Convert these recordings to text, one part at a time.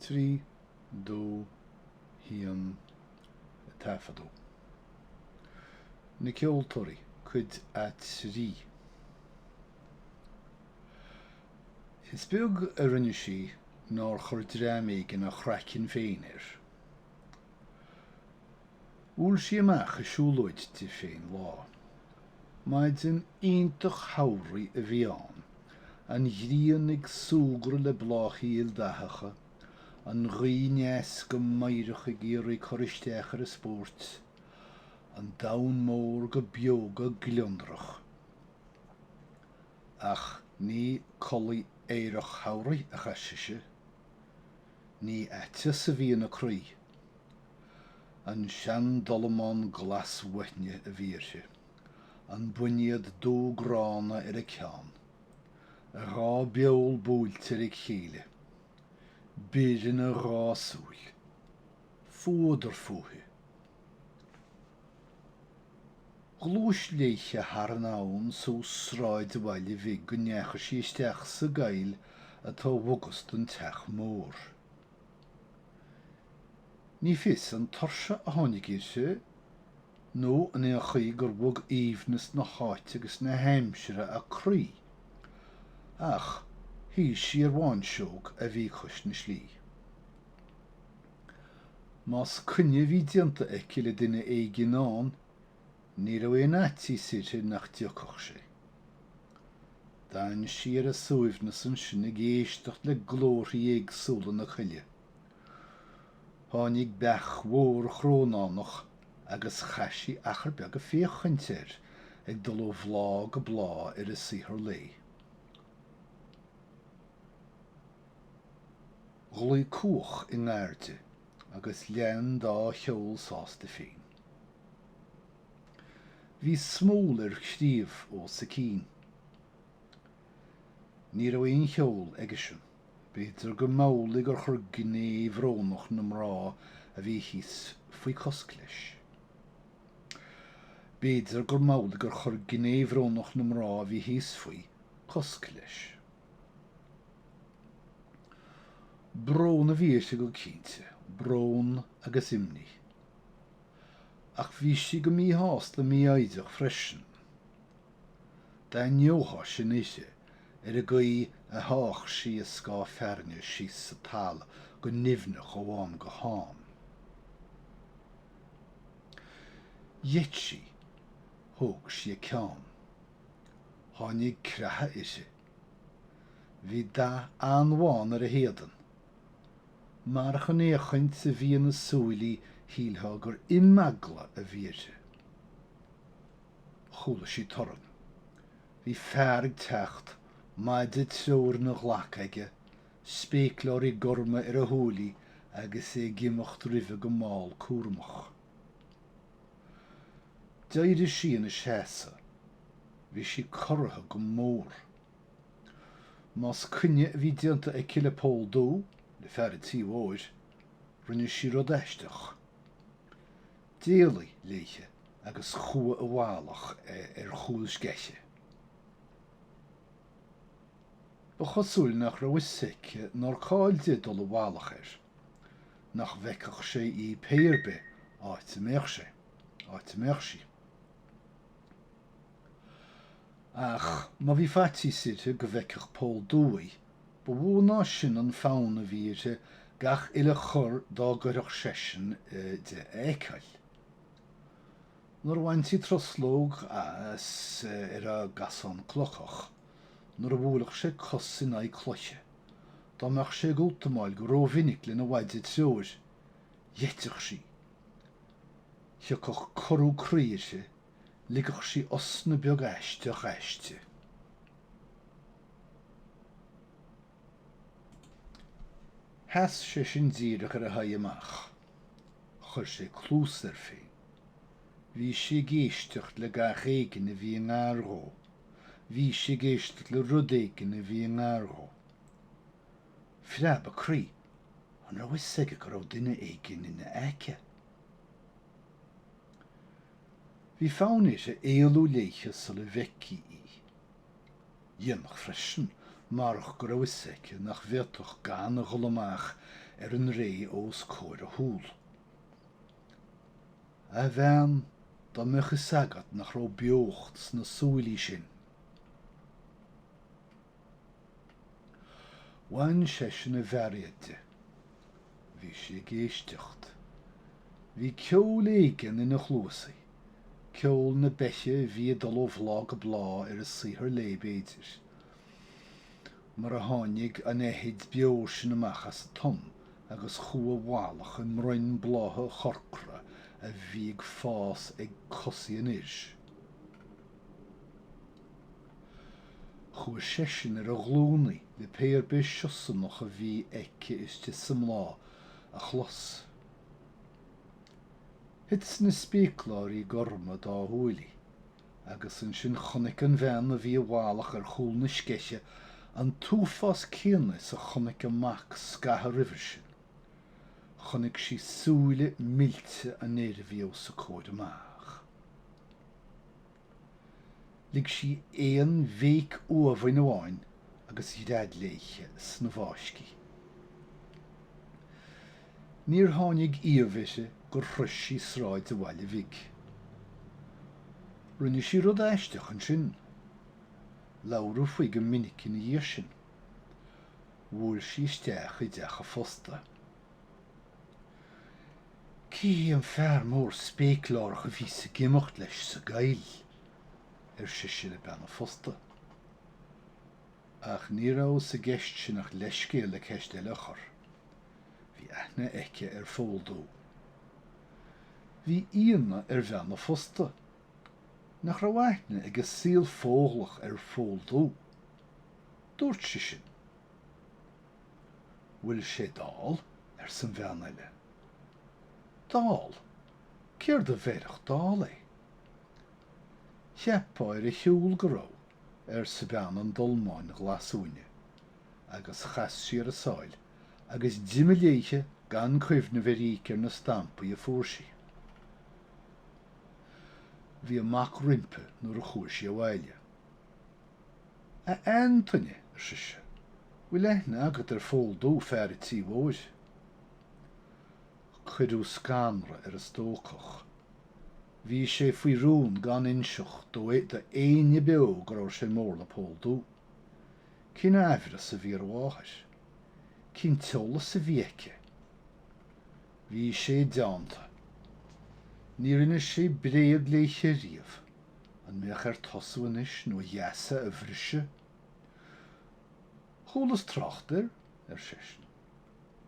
Trí, dó, haon, taifeadadh. Na Ceoltóirí, Cuid a Trí. Is beag a rinne sí nár chuir dream éigin a chraiceann féin air. Bhuail sí amach ag siúlóid di féin lá. Maidin iontach shamhraidh a bhí ann, an ghrian ag súgradh le bláthaí ildathacha, an ghaoth aneas go meidhreach ag iarraidh cur isteach ar an spóirt, an domhan mór go beoga gliondrach. Ach ní culaith aerach shamhraidh a chaith sise. Ní aiteas a bhí ina croí. An sean-dolamán glas-uaithne a bhí uirthi, an boinéad dubh gránna ar a ceann, a dhá béal buailte ar a chéile, bior ina dhá súil. Fuadar fúithi. Ghluais léithe thar an abhainn suas sráid an bhaile bhig go ndeachaigh sí isteach sa gcoill atá i bhfogas don teach mór. Ní fios an tuirse a tháinig uirthi, nó an é an chaoi gur bhog aoibhneas na háite agus na haimsire a croí, ach shuigh sí ar bháinseog a bhí cois na slí. Más coinne a bhí déanta aici le duine éigin ann, Ní raibh aon fhaitíos uirthi nach dtiocfadh sé. D'fhan sí ar a suaimhneas ansin ag éisteacht le glórthaí éagsúla na coille. Tháinig beach mhór chrónánach agus chaith sí achar beag ag féachaint air ag dul ó bhláth go bláth ar a saothar lae. Ghlaoigh cuach i ngar di. agus lean dá cheol sásta féin. Bhí smól ar chraobh os a cionn. Ní raibh aon cheol aigesean, b'fhéidir go mb'amhlaidh gur chuir gné bhrónach na mná a bhí thíos faoi cosc leis. B'fhéidir go mb'amhlaidh gur chuir gné bhrónach na mná a bhí thíos faoi cosc leis. Brón a bhí uirthi go cinnte, brón agus imní. Ach bhí sí go míshásta mífhoighdeach freisin. D'aithneofá sin uirthi, ar an gcaoi a sháigh sí a scáth fearthainne síos sa talamh go nimhneach ó am go ham. Gheit sí. Thóg sí a ceann. Tháinig creathadh uirthi. Bhí dath an-bhán ar a héadan. Marach an fhéachaint a bhí ina súilí shílfeá gur imeagla a bhí uirthi. Chuala sí torann. Bhí fear ag teacht, maide treoir ina ghlac aige, spéacláirí gorma ar a shúilí agus é ag imeacht roimhe go mall cúramach. D'éirigh sí ina seasamh. Bhí sí corraithe go mór. Más coinne a bhí déanta aici le Pól Dubh, le fear an tí mhóir, rinne sí rud aisteach. D'éalaigh léithe agus chuaigh i bhfalach ar chúl sceiche. Ba chosúil nach raibh fhios aici nár chall di dul i bhfalach air. nach bhfeicfeadh sé í pé ar bith áit a mbeadh sé, áit a mbeadh sí. Ach má bhí faitíos uirthi go bhfeicfeadh Pól Dubh í, ba mhó ná sin an fonn a bhí uirthi gach uile chor dá gcuirfeadh seisean de a fheiceáil. Nuair a bhaintí truslóg as ar an gcasán clochach, nuair a bhuaileadh sé cos in aghaidh cloiche, dá mbeadh sé ag útamáil go rómhinic lena mhaide treoir, gheiteadh sí. Thiocfadh corrú croí uirthi, ligfeadh sí osna beag aisteach aisti. Sheas seisean díreach ar a haghaidh amach. Chuir sé cluas air féin. Bhí sé ag éisteacht le gach éigin a bhí i ngar dhó. Bhí sé ag éisteacht le rud éigin a bhí i ngar dhó. Phreab a croí. An raibh 'fhios aige go raibh duine éigin ina aice? Bhí fonn uirthi éalú léithe sula bhfeicfí í. Dhéanfadh freisin, marach go raibh 'fhios aici nach bhféadfadh gan a dhul amach ar an ré os comhair a shúl. A bhean, dá mbeadh 'fhios agat nach raibh beocht sna súilí sin! Bhain seisean a bhairéad de. Bhí sé ag éisteacht. Bhí ceol éigin ina chluasaí, ceol na beiche a bhí ag dul ó bhláth go bláth ar a saothar léi, b'fhéidir. mar a tháinig an fheithid beo sin amach as an tom agus chuaigh i bhfalach i mbroinn blátha chorcra a bhí ag fás ag cosaí an fhir sin. Chuaigh seisean ar a ghlúnaí le pé ar bith siosarnach a bhí aici istigh sa mbláth a chlos. Thit na spéacláirí gorma dá shúilí Agus ansin chonaic an bhean a bhí i bhfalach ar chúl na sceiche an t-uafás céanna is a chonaic a mac scaitheamh roimhe sin. Chonaic sí súile millte an fhir a bhí os a comhair amach. Lig sí aon bhéic uamhain amháin agus ghread léithe sna bhfáiscí. Níor tháinig iamh uirthi gur shrois sí sráid a bhaile bhig. Rinne sí rud aisteach ansin. Labhradh faoi go minic ina dhiaidh sin. Bhuail sí isteach i dteach a phosta. Cé hé an fear mór spéaclárach a bhíos ag imeacht leis sa gcoill? ar sise le bean a phosta. Ach ní raibh sa gceist sin ach leithscéal le ceist eile a chur. Bhí aithne aici ar Phól Dubh. Bhí íonadh ar bhean a phosta. Nach raibh aithne ag a saol Fódhlach ar Phól Dubh? Dúirt sí sin. Bhfuil sé dall? arsa an bhean eile. Dall? Céard a bheirfeadh dall é? Cheapfá ar a shiúl go raibh. arsa bean an dolmáin ghlasuaine, agus chas sí ar a sáil agus d'imigh léithe gan cuimhneamh ar íoc ar na stampaí a fuair sí. Bhí a mac roimpi nuair a chuaigh sí abhaile. A Antaine, ar sise, bhfuil aithne agat ar Phól Dubh, fear an tí mhóir? Cuireadh scanradh ar an stócach. Bhí sé faoi rún gan inseacht do éinne beo go raibh sé mór le Pól Dubh. Cén aimhreas a bhí ar a mháthair? Cén t-eolas a bhí aici? Bhí sé i dteannta. Níor inis sé bréag léithe riamh. An mbeadh air tosú anois nó a gheasa a bhriseadh? Chualas trácht air, ar seisean.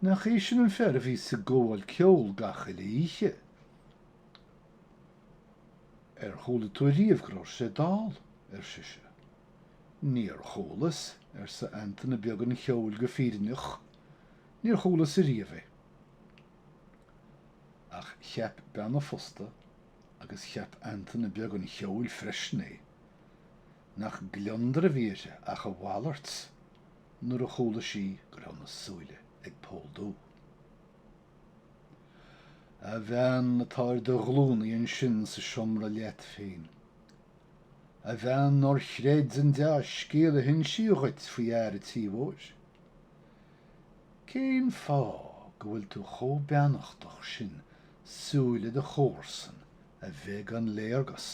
Nach é sin an fear a bhíos ag gabháil ceoil gach uile oíche? Ar chuala tú ariamh go raibh sé dall? ar sise. Níor chualas, arsa Antaine Beag an Cheoil go fírinneach, níor chualas ariamh é. Ach cheap bean a phosta, agus cheap Antaine Beag an Cheoil freisin é, nach gliondar a bhí uirthi ach a mhalairt nuair a chuala sí go raibh na súile ag Pól Dubh. A bhean atá ar do ghlúnaí ansin sa seomra leat féin. A bhean nár chreid an dea-scéal a hinsíodh dhuit faoi fhear a tí mhóir. Cén fáth go bhfuil tú chomh beannachtach sin súile do chomharsan a bheith gan léargas?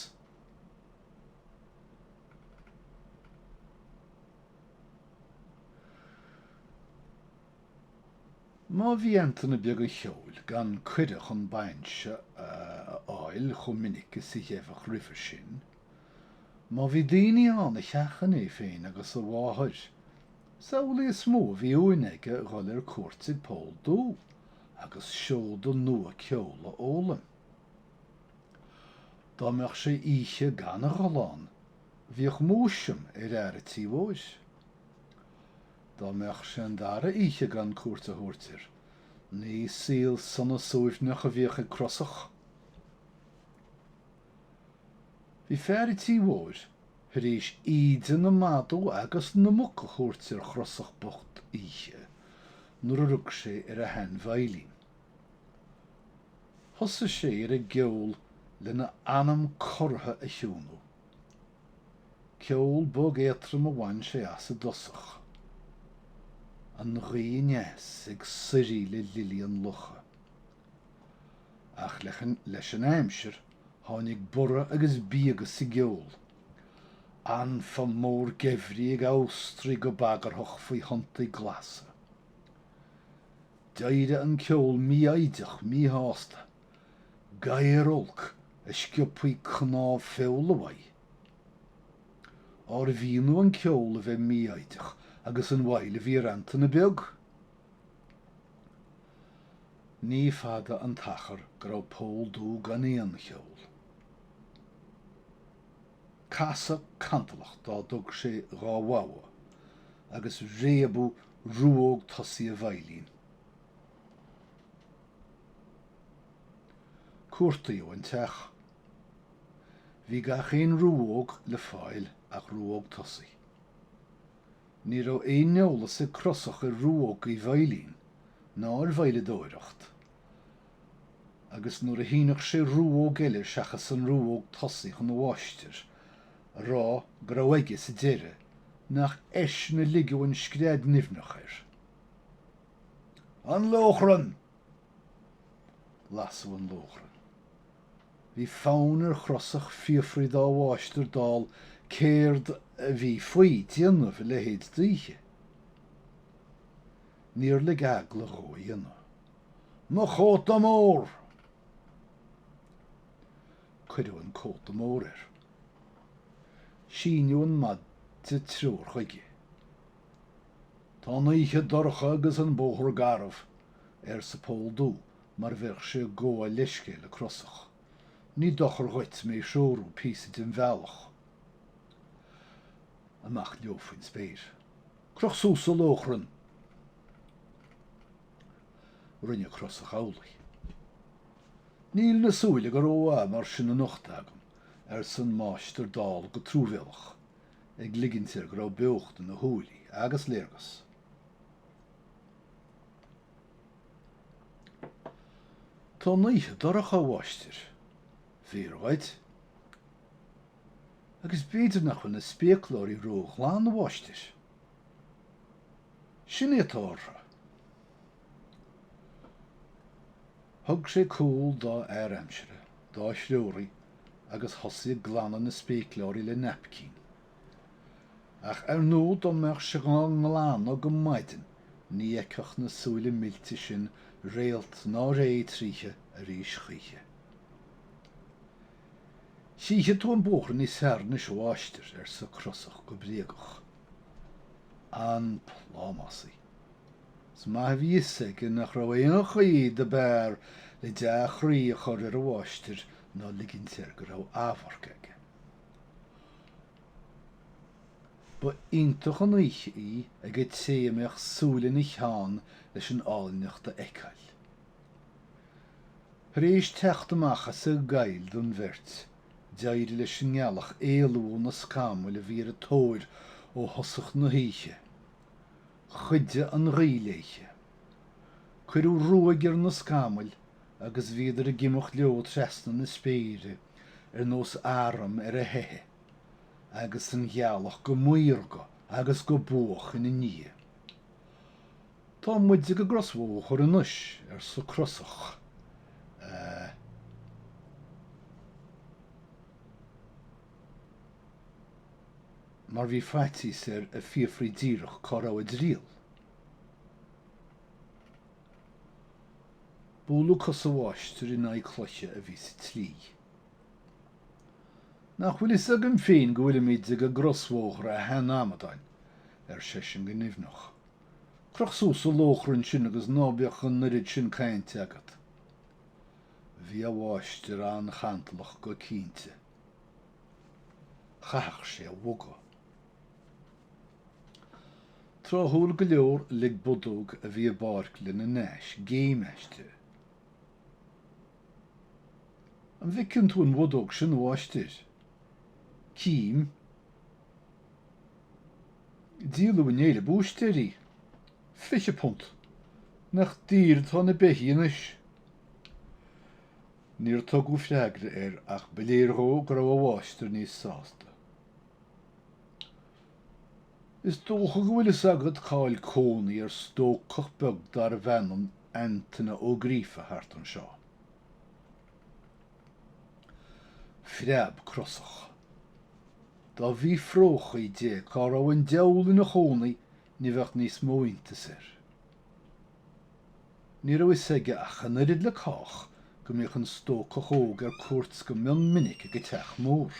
Má bhí Antaine Beag an Cheoil gan cuireadh chun bainse a fháil chomh minic is a gheibheadh roimhe sin, má bhí daoine ann a sheachain é féin agus a mháthair, is amhlaidh is mó a bhí uain aige a dhul ar cuairt ag Pól Dubh agus seoda nua ceoil a fhoghlaim. Dá mbeadh sé oíche gan a dhul ann, bhíodh múisiam ar fhear a tí mhóir. Dá mbeadh sé an dara oíche gan cuairt a thabhairt air, ní saol sona suaimhneach a bhíodh ag Crosach. Bhí fear a' tí mhóir thar éis íde na madadh agus na muc a thabhairt ar Chrosach bocht oíche nuair a rug sé ar a shean-veidhlín. Thosaigh sé ar an gceol lena anam cortha a chiúnú. Ceol bog éatrom a bhain sé as i dtosach. An ghaoth aneas ag suirí le lilí an locha. Ach leis an aimsir tháinig borradh agus bíogadh sa gceol. Anfa mór geimhridh ag amhastraigh go bagarthach faoi thonntaí glasa. D'éirigh an ceol mífhoighdeach míshásta. gadhar olc a sciobfaí cnámh feola uaidh. Arbh ionadh an ceol a bheith mífhoighdeach agus an mhoill a bhí ar Antaine Beag! Ní fada an t-achar go raibh Pól Dubh gan aon cheol. Casadh cantalach dá dtug sé dhá bhogha agus réabadh ruóg tosaigh a veidhlín. Cuartaíodh an teach. Bhí gach aon ruóg le fáil ach ruóg tosaigh. Ní raibh aon eolas ag Crosach ar ruógaí veidhlín ná ar veidhleadóireacht, agus nuair a shíneadh sé ruóg eile seachas an ruóg tosaigh chun a mháistir, a rá go raibh aige sa deireadh nach eisean a ligeadh an scread nimhneach air. An Lóchrann! Lasadh an lóchrann. Bhí fonn ar Chrosach fiafraí dá mháistir dall céard a bhí faoi déanamh a leithéid d'oíche. Níor lig eagla dhó a dhéanamh. Mo chóta mór! Cuireadh an cóta mór air. Síneadh an maide treoir chuige. Tá an oíche dorcha agus an bóthar garbh, arsa Pól Dubh mar bheadh sé ag gabháil leithscéil le Crosach. Ní dochar dhuit mé a threorú píosa den bhealach amach leo faoin spéir. Croch suas an lóchrann! Rinne Crosach amhlaidh. Níl na súile go rómhaith mar sin anocht agam, arsa an máistir dall go truamhéalach. ag ligint air go raibh beocht ina shúilí agus léargas Tá an oíche dorcha, a mháistir. Fíor dhuit. Agus b'fhéidir nach bhfuil na spéacláirí ró-ghlan, a mháistir. Sin é atá orthu. Thug sé cúl dá fhear aimsire, dá threoraí, agus thosaigh ag glanadh na spéacláirí le naipcín. Ach ar ndú dá mbeadh sé dhá nglanadh go maidin ní fheicfeadh na súile millte sin réalt ná ré tríothu arís choíche. Chífidh tú an bóthar níos fearr anois a mháistir, arsa Crosach go bréagach. An plámásaí. Is maith a bhí 'fhios aige nach raibh aon chaoi do b'fhearr le dea-chroí a chur ar a mháistir ná ligint air go raibh amharc aige. Ba iontach an oíche í ag an té a mbeadh súil ina cheann leis an áilneacht a fheiceáil. Tar éis teacht amach as an gcoill don bheirt, d'éirigh leis an ngealach éalú ó na scamaill a bhí ar a tóir ó thosach na hoíche. Chuidigh an ghaoth léithe. Cuireadh ruaig ar na scamaill agus bhíodar ag imeacht leo trasna na spéire ar nós arm ar a theitheadh, agus an ghealach go maorga agus go buach ina ndiaidh. 'Tá muid ag an gcrosbhóthar anois, arsa Crosach. 'Sea. mar bhí faitíos air a fiafraí díreach cá raibh a dtriall. Bualadh cos a mháistir in aghaidh cloiche a bhí sa tslí. Nach bhfuil fhios agam féin go bhfuilimid ag an gcrosbhóthar, a shean-amadáin? ar seisean go nimhneach. Croch suas an lóchrann sin agus ná bíodh an oiread sin cainte agat. Bhí a mháistir an-chantalach go cinnte. chaithfeadh sé a bhogadh. Tráthúil go leor, lig bodóg a bhí i bpáirc lena n-ais géim aisti. An bhfeiceann tú an bhodóg sin, a mháistir? Cím. Díoladh inné le búistéir í. Fiche punt. Nach daor atá na beithígh anois! Níor tugadh freagra air ach ba léir dhó go raibh a mháistir níos sásta. Is dócha go bhfuil fhios agat cá'il cónaí ar stócach beag darbh ainm Antaine Ó Gríofa thart anseo. Phreab crosach. Dá bhfiafróchaí de cá raibh an diabhal ina chónaí ní bheadh níos mó iontais air. Ní raibh fhios aige ach an oiread le cách go mbíodh an stócach óg ar cuairt go mion minic ag an teach mór.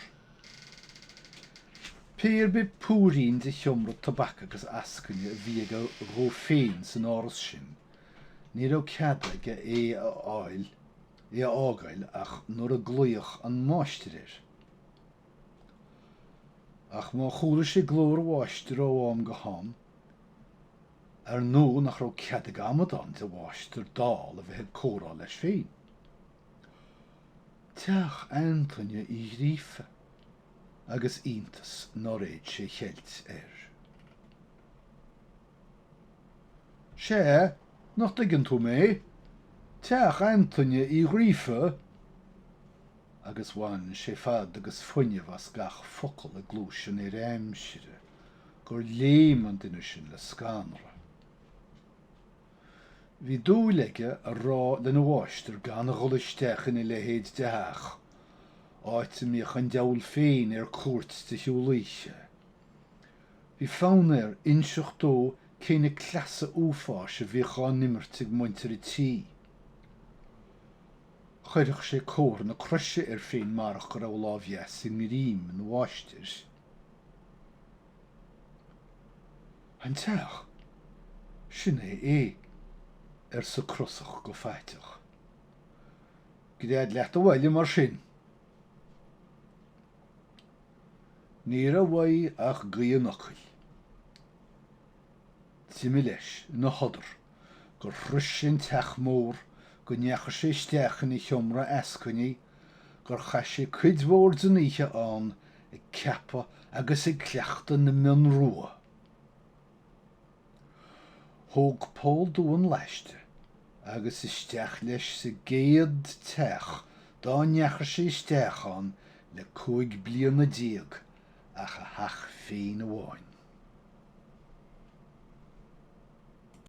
Pé ar bith púirín de sheomra tobac agus eascaine a bhí aige dhó féin san áras sin, ní raibh cead aige é a fháil, é a fhágáil ach nuair a ghlaodh an máistir air. Ach má chuala sé glór a mháistir ó am go ham, Ar ndóigh nach raibh cead ag amadán de mháistir dall a bheith ag comhrá leis féin. Teach Antaine Uí Ghríofa agus iontas nár fhéad sé a cheilt air. Sea, nach dtuigeann tú mé? Teach Antaine Uí Ghríofa! Agus bhain sé fad agus fuinneamh as gach focal i gcluais an fhir aimsire. gur léim an duine sin le scanradh. Bhí dúil aige a rá lena mháistir gan a dhul isteach ina leithéid de theach, áit a mbíodh an diabhal féin ar cuairt de shiúl oíche. Bhí fonn air inseacht dó cé na cleasa uafáis a bhíodh á n-imirt ag muintir an tí. Chuirfeadh sé comhartha na croise air féin marach go raibh a lámh dheas i ngreim ina mháistir. An teach, sin é é, arsa Crosach go faiteach. Gread leat abhaile mar sin. Ní raibh uaidh ach gaoth an fhocail. D'imigh leis ina shodar gur shrois sé an teach mór, go ndeachaigh sé isteach ina sheomra eascainí, gur chaith sé cuid mhór den oíche ann ag ceapadh agus ag cleachtadh na mionn rua. Thóg Pól Dubh an laiste agus isteach leis sa gcéad teach dá ndeachaigh sé isteach ann le cúig bliana déag ach a theach féin amháin.